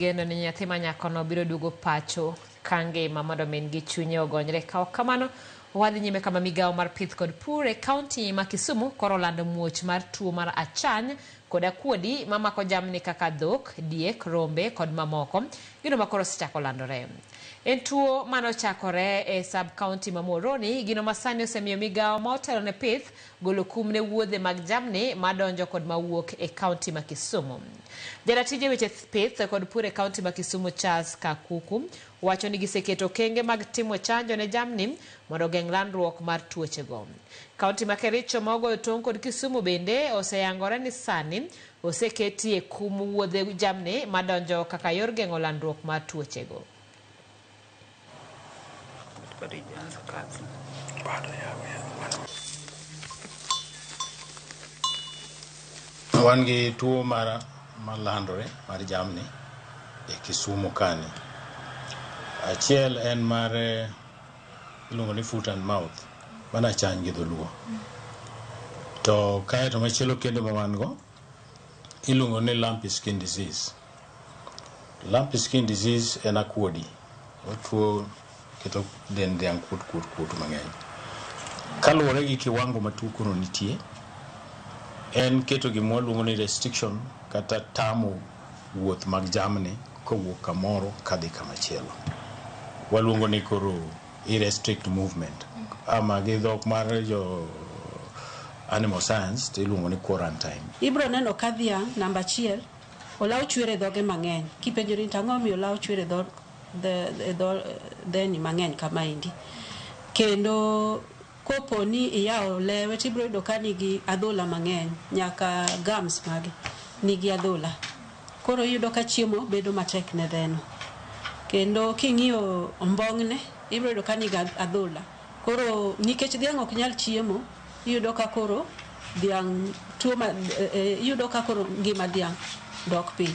Geno ni nyathi ma nyakono biro duogo pacho ka ngima mondo min gi chunye ogonyre. Ka ok kamano, wadhi nyime kama migawo mar pith kod pur e kaunti ma Kisumu koro olando muoch mar tuo mar achany kod akuodi ma mako jamni kaka dhok, diek, rombe kod mamoko. Gino ma koro osechako landore. En tuo mane ochakore e sub-kaunti ma Muhoroni, gino ma sani osemiyo migawo ma otelo ne pith Golo kum ne wuodhe mag jamni ma donjo kod ma wuok e kaunti ma Kisumu. Jaratije weche pith kod pur e kaunti ma Kisumu Charles Kakuku wacho ni giseketo okenge mag timo chanjo ne jamni mondo ogeng' landruok mar tuoche go. Kaunti ma Kericho ma ogoyo tong' kod Kisumu bende oseyangore ni sani oseketie kum wuodhe jamni ma donjo kaka yor geng'o landruok mar tuoche go. Bado haijaanza kazi. Bado yawe. Wan gi tuo mar malandore mar jamni e Kisumu kani. Achiel en mar eh, iluongo ni foot and mouth mana chany gi dholuo. To kae to machielo kendo ma wan go iluongo ni lumpy skin disease. Lumpy skin disease en akuodi. Otuo keto dend dhiang' kuot kuot kuot mang'eny. Kaluwore gi kiwango ma tuo kono nitie, en keto gima waluongo ni restriction kata tamo wuoth mag jamni kowuok kamoro kadhi kamachielo. Waluongo ni koro i restrict movement ama gi dhok mar jo animal science tiluongo ni quarantine. Ibro neno ka dhiang' namba achiel. Olaw chwer e dhoge mang'eny. Kipenjori ni to ang'o momiyo olaw chwer e dho dhe- e dho dheni mang'eny kamaendi, kendo kopo ni iyawo lewe to ibiro yudo ka nigi adhola mang'eny, nyaka gums mage nigi adhola. Koro iyudo ka chiemo bedo matek ne dheno. Kendo king'iyo ombong'ne, ibiro yudo ka nigi adhola. Koro nikech dhiang' ok nyal chiemo, iyudo ka koro dhiang' tuo ma, e, e, iyudo ka koro ngima dhiang' dok piny.